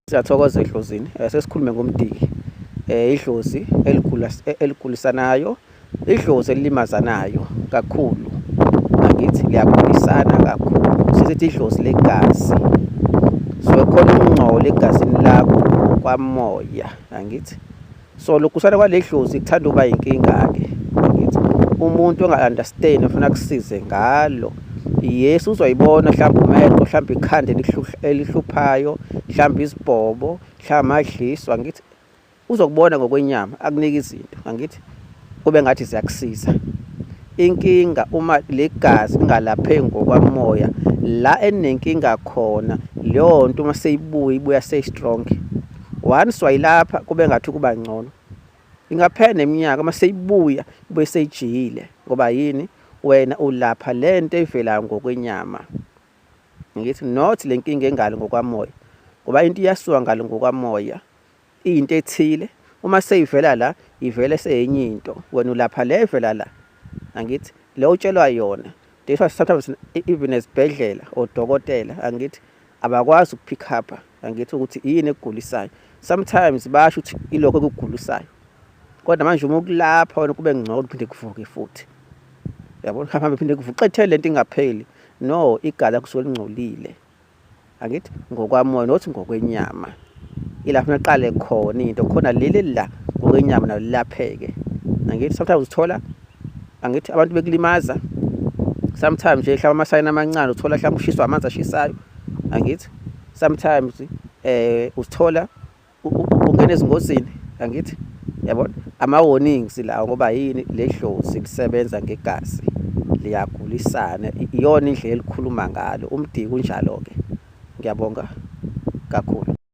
Siyathokoza eDlozini, eh, sesikhulume ngomdiki. Eh, idlozi eh, eligulisanayo, idlozi elilimazanayo kakhulu. Angithi liyagulisana kakhulu. Sisithi idlozi legazi. So khona ukungcola egazini lakho kwamoya, angithi? so lokusana kwaledlozi kuthanda uba inkinga-ke umuntu onga-understand ofuna kusize ngalo yes uzoyibona mhlawumbe umehlo mhlawumbe ikhanda elihluphayo mhlawumbe izibhobo mhlawumbe amadliswa ngithi uzokubona ngokwenyama akunike izinto angithi kube ngathi ziyakusiza inkinga uma legazi lingalapheki ngokwamoya la enenkinga khona leyo nto uma seyibuya ibuya seyistrong once wayilapha kube ngathi kuba ngcono ingaphela neminyaka uma seyibuya ibuye seyijiyile ngoba yini wena ulapha le nto evelayo ngokwenyama ngithi not le nkinga engalo ngokwamoya ngoba into iyasuka ngalo ngokwamoya into ethile uma seyivela la ivele seyenye into wena ulapha le evela la angithi le utshelwa yona that's why sometimes e-, even esibhedlela odokotela angithi abakwazi ukupick up angithi ukuthi yini ekugulisayo sometimes basho ukuthi ilokho ekugulisayo kodwa manje uma ukulapha wena kube ngcono uphinde kuvuke futhi yabo hambe phinde kuvuke xethele lento ingapheli no igala kusuke lingcolile angithi ngokwamoya nothi ngokwenyama ilapho naqale khona into khona leli la ngokwenyama nalo lilapheke angithi sometimes uthola angithi abantu bekulimaza sometimes nje hlaba amasayini amancane uthola hlaba ushiswa amanzi ashisayo angithi sometimes eh usithola ungena ezingozini angithi yabona ama warnings lawo ngoba yini ledlozi lisebenza ngegazi liyagulisana iyona indlela elikhuluma ngalo umdiki unjalo ke ngiyabonga kakhulu